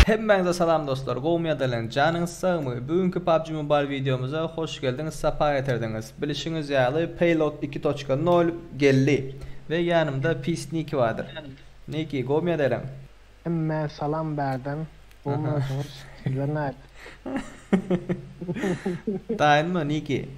Hemmäňize salam dostlar gowymy ýa dälem janyňyz sagmy bu günki PUBG Mobile wideomyza hoş geldiňiz sapa getirdiňiz bilişiňiz ýaly Payload iki toçka nol geldi we ýanymda Peace Niki bardyr Niki gowymy ýa dälem Hemmä salam bärden bolmadyňyz sizler nädip. Daýanma Niki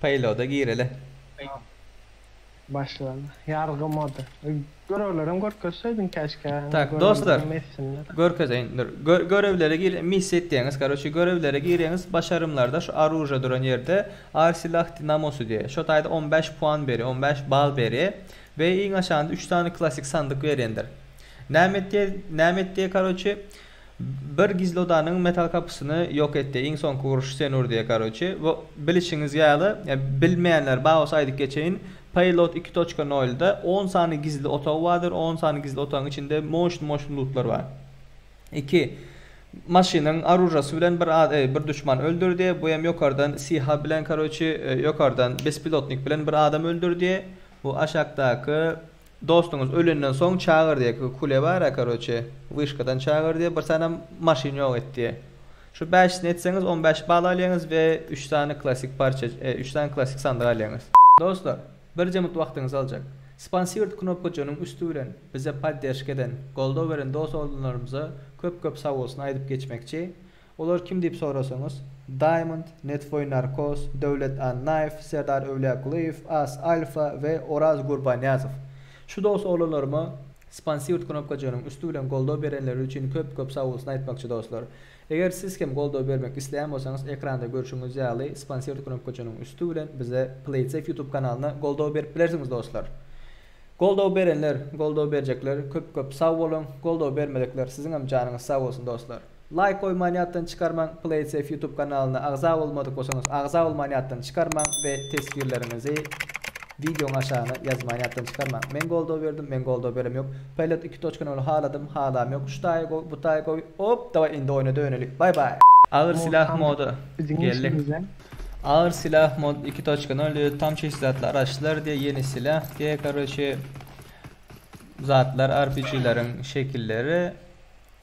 paýloda gireli. Başlady ýargy moda. Görewlerem görkezseýdiň käşkä indi görewler hem etsinler. Görkezeýin dur görewlere gir missiýa etýäňiz karoçi görewlere gireňiz başarymlarda şu aruža duran ýerde ar silah dinamosy diýe şo taýda on bäş puan beri on bäş bal beri Be iň aşagynda üç sany klasik sandyk berendir. Näme et diýe näme et diýe karoçe bir gizlodanyň metal kapysyny ýok et diýe iň soňky uruşy sen ur diýe karoçe we bilişiňiz ýaly bilmeýänler bar bolsa aýdyp geçeýin Payload iki toçka nolda on sany gizli otag bardyr on sany gizli otagyň içinde moşn moşn lutlar bar iki maşynyň aružasy bilen bir ad bir duşman öldür diýe bu hem ýokardan siha bilen karoçe ýokardan bespilotnik bilen bir adam öldür diýe. Bu aşakdaky dostuňyz ölenden soň çagyr diýe kule bara karoçe wişkadan çagyr diýe bir sany maşyn ýok et diýe şu bäşisini etseňiz on bäş bal alýaňyz we üç sany klassyk parça üç sany klassyk sandyk alýaňyz. Dostlar, birje minut wagtyňyzy aljak. Sponsired knopkajygynyň üsti bilen bize podderşka eden, goldaw beren dos-oglunlarymyza köp-köp sag bolsun aýdyp geçmekçi. Olar kim diýip sorasaňyz, Diamond, Netwoý Narkos, Döwlet Annaýew, Serdar Öwlýakulyýew, As Alfa we Oraz Gurbanýazow. Şu dos oglanlaryma Sponsirt knopkajygynyň üsti bilen goldaw berenleri üçin köp köp sagbolsun aýtmakçy dostlar. Eger siz hem goldaw bermek isleýän bolsaňyz ekranda görşüňiz ýaly Sponsirt knopkajygynyň üsti bilen bize Playtsafe YouTube kanalyna goldaw berip bilersiňiz dostlar. Goldaw berenler, goldaw berjekler köp köp sag boluň, goldaw bermedikler siziňem janyňyz sag bolsun dostlar. Laýk goýman ýatdan çykarmaň Playsafe ýutub kanalyna agza bolmadyk bolsaňyz agza bolman ýatdan çykarmaň we teswirleriňizi wideoň aşagyna ýazman ýatdan çykarmaň Men goldaw berdim men goldaw berem ýok Paýlat iki toçka nol haladym halam ýok şu taýy gowy bu taýy gowy op daway indi oýna döneli bay bay. Agyr silah mody geldi. Agyr silah mod iki toçka nol diýdi tam çyslatly araçlar diýýä ýeni silah diýýä karoçe zatlar arpijileriň şekilleri.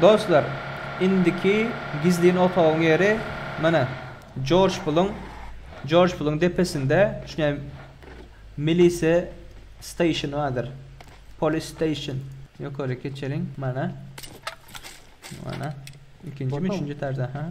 Dostlar, indiki gizlin otagyň ýeri mana Jorj Puluň Jorj Puluň depesinde şuňa Milise Station bardyr. Polis Station. Ýokary geçeliň. Mana. Mana. Ikinjimi, üçünji etajda, ha.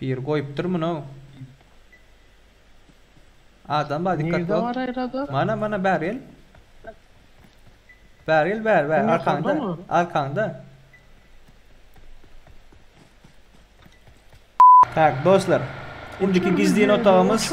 Biri goýupdyr muny. Adam bar dikkat Nirde bar aýrada? Mana mana bäri gel. Bäri gel bäri bäri arkaňda. Arkaňda. Tak dostlar. Indiki gizlin otagymyz.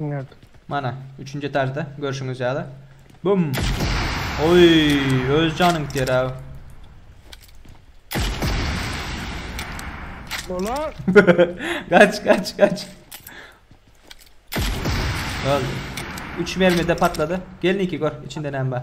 Nerede? Mana, üçünji etajda görşüňiz ýaly. Bum! Oý, öz janyň gitýär abi. Ola! kaç, kaç, kaç. Öldü. Üç mermide patladı. Gelin iki gör, içinde näme bar.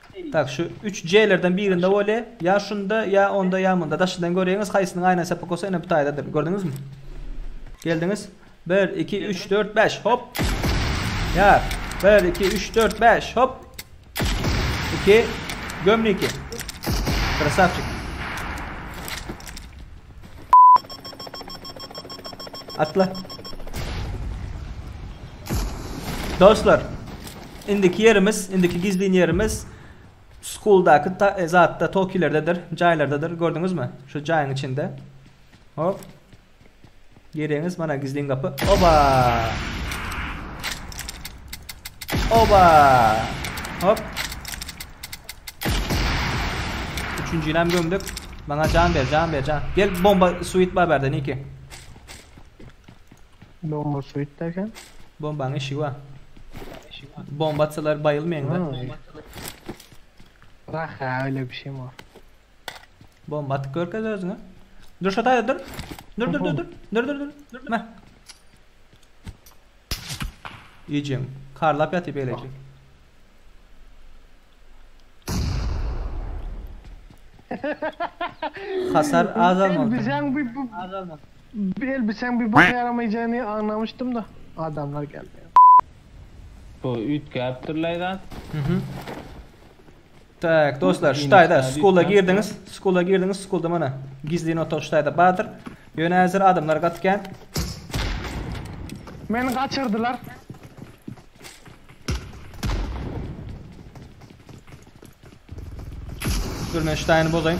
Tak, şu üç J-lerden birinde bolýa, ýa şunda, ýa onda, ýa munda. Daşydan göreýiňiz, haýsysynyň aýna çepek bolsa ene bu taýdadyr. Gördüňizmi? Geldiňiz. Bir, iki, üç, dört, bäş. Hop. Ýar. Bir, iki, üç, dört, bäş. Hop. İki. Gömniki. Krasavçik. Atla. Dostlar, indiki ýerimiz, indiki gizlin ýerimiz Schooldaky ta, e, zatda, tokilerdedir, jaýlardadyr. Gördüňizmi? Şu jaýyň içinde. Hop. Geregiňiz mana gizlin gapy. Oba! Oba! Hop. Üçünji ilam gömdük. Bana can ver, can ver, can. Gel bomba suit var berde Niki. Bomba suit derken? Bombanın işi var. Bomba atsalar bayılmayın da. Bırak ya öyle bir şey mi var? Bomba atyp görkez özüňe. Dur şu taýda dur. Dur dur dur dur. Dur dur dur. Dur meh. Ýejem. Karlap ýatyp beýleje. Hasar azalmaly. Elbiseň bir bu Azalma. bir elbiseň bir boka ýaramaýjany aňlamışdym da adamlar geldi. Bu üýtgäpdir laýzat. Mhm. Tak, dostlar, şu taýda skula girdiňiz, skula girdiňiz, skulda mana gizlin otag şu taýda bardyr. Ýöne häzir adamlar gaty kän. Meni gaçyrdylar. Dur men şu taýyny bozaýyn.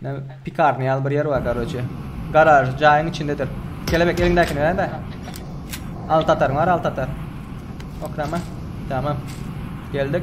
Men pikarny ýaly bir ýer bar karoçe. Garaž jaýyň içindedir. Kelebek eliňdäkini berende. Al tatar bar al tatar. Okrama. Tamam. Geldik.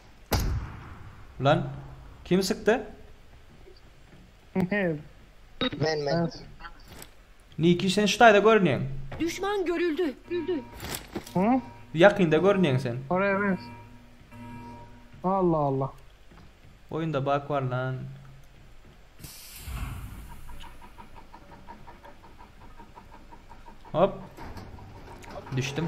Lan kim sykdy? Mew. Men men. Mew. Niki sen şu taýda görünýäň. Düşman görüldi. Hı? Ýakynda görünýäň sen. Oraya ben. Allah Allah. Oýunda bug bar lan. Hop. Düşdüm.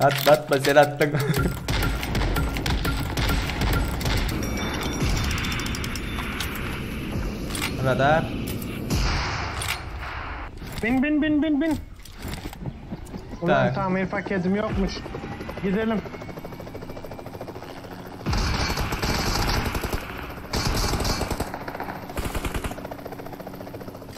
Atma atma sen atdyň. Radar. Bin bin bin bin bin. Ulan Tak. tamir paketim yokmuş. Gidelim.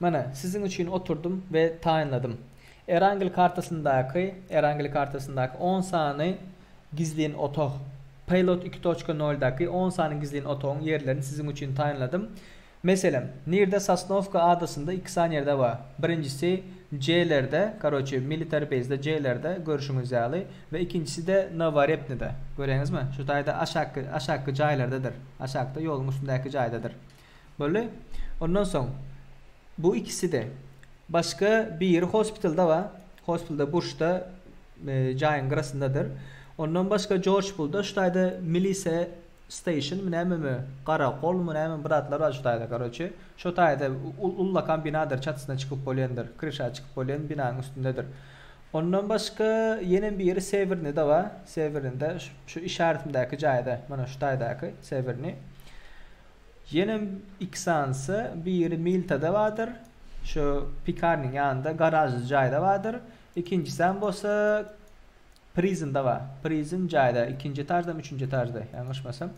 Mana, siziň üçin oturdym we taýynladym. Erangel kartasyndaky, Erangel kartasyndaky on sany gizlin otag, Pilot iki toçka nol daky on sany gizlin otagyň ýerlerini siziň üçin taýynladym. Meselem, nirde Sosnowka adasynda iki sany ýerde bar. Birinjisi J-lerde, karoçe, military base-de J-lerde, görşüňiz ýaly, we ikinjisi-de Noworepnida. Göreňizmi? Şu taýda aşakky, aşakky jaýlardadyr. Aşakda, ýoluň üstündäki jaýdadyr. Boldy. Ondan soň bu ikisi-de. Başga biri hospitalda bar. Hospitalda burçda jaýyň gyrasyndadyr. Ondan başga Jorj bul daş taýda milisiýa steýşenmi nämemi, garakol-my näme bir zatlar bar şu taýda karoçe. Şo taýda ullakan binadyr çatysyna çykyp bolýandyr, kryşa çykyp bolýan binanyň üstündedir. Ondan başga ýene biri Sewernide bar. Sewernide şu işaretimdäki jaýda, mana şu taýdaky Sewerni. Ýenem iki sanysy biri Miltada bardyr, şu pekarnyň ýanynda garažly jaýda bardyr, ikinjisem bolsa Prizmda bar. Prizm jaýda, ikinji etaždamy, üçünji etažda, ýalňyşmasam.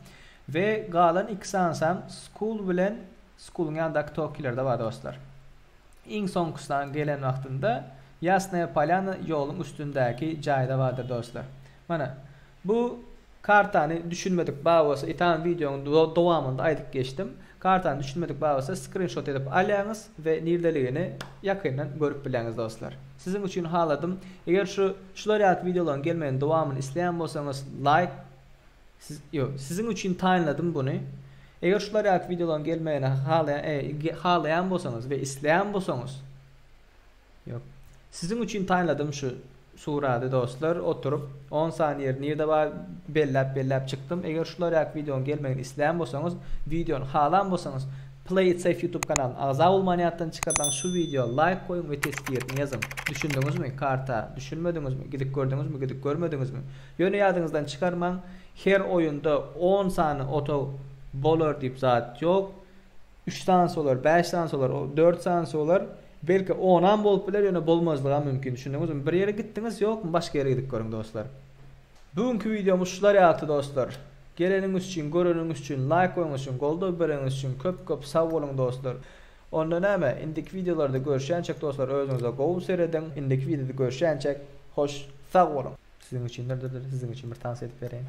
We galan iki sanysam Skul bilen Skuluň ýanyndaky Tokilerde bar dostlar. Iň soňkusynyň gelen wagtynda Ýasnaýa Polýana ýoluň üstündäki jaýda bardyr dostlar. Mana, Bu kartany düşünmedik bar bolsa itan videonyň dowamynda aýdyp geçdim. Kartany düşünmedik bar bolsa skrinşot edip alýaňyz we nirdeligini ýakyndan görüp bileňiz dostlar. Siziň üçin haladym. Eger şu şular ýaly videolaryň gelmegini dowamyny isleýän bolsaňyz laýk siz ýo siziň üçin taýynladym buny. Eger şular ýaly videolaryň gelmegini halaýan halaýan bolsaňyz we isleýän bolsaňyz. Ýok. Siziň üçin taýladym şu surady dostlar oturyp on sany ýeri nirde bar belläp belläp çykdym eger şular ýaky wideonyň gelmegini islän bolsaňyz wideony halan bolsaňyz play it safe youtube kanalyna agza bolman ýatdan çykasaňyz şu wideoa laýk goýuň we tesbirini ýazyň düşündiňizmi karta düşünmediňizmi gidip gördüňizmi gidip görmediňizmi ýöne ýadyňyzdan çykarmaň her oýunda on sany otag bolar diýip zat ýok. Üç sany solar, bäş sany solar, dört sany solar, belki onam bolup biler, ýöne bolmazlygam mümkin. Düşündiňizmi? Bir ýere gitdiňiz ýokmy? Başga ýere gidip görüň dostlar. Bu günki wideomyz şular ýalydy dostlar. Geleniňiz üçin, göreniňiz üçin, laýk goýuňyz üçin, goldaw bereniňiz üçin köp köp sag boluň dostlar. Onda näme, indiki wideolarda görüşýänçäk dostlar özüňize gowy serediň. Indiki wideoda görüşýänçäk hoş sag boluň. Siziň üçindir, dur dur siziň üçin bir tans edip bereýin.